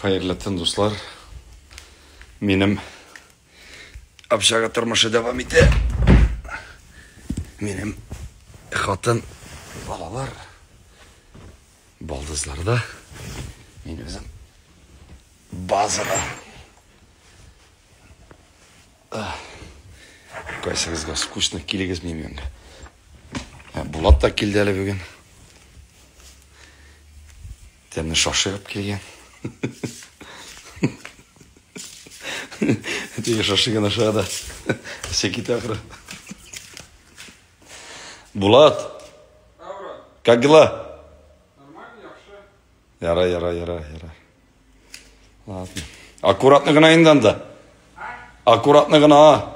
Хәерле төн, дуслар. Минем общага тормышы дәвам итә. Минем хатын балалар балдызларда. Мин үзем базада. Кайсыгызга скучно килегез мимен. Булат та килде әле бүген. Тәне шашыгып килгән. Әтигә шашыган ашыга да. Әсә китә ахры. Булат. Как дела? Нормально, яхшы. Яра, яра, яра, яра. Ладно. Аккуратно гына инде анда. Аккуратно гына.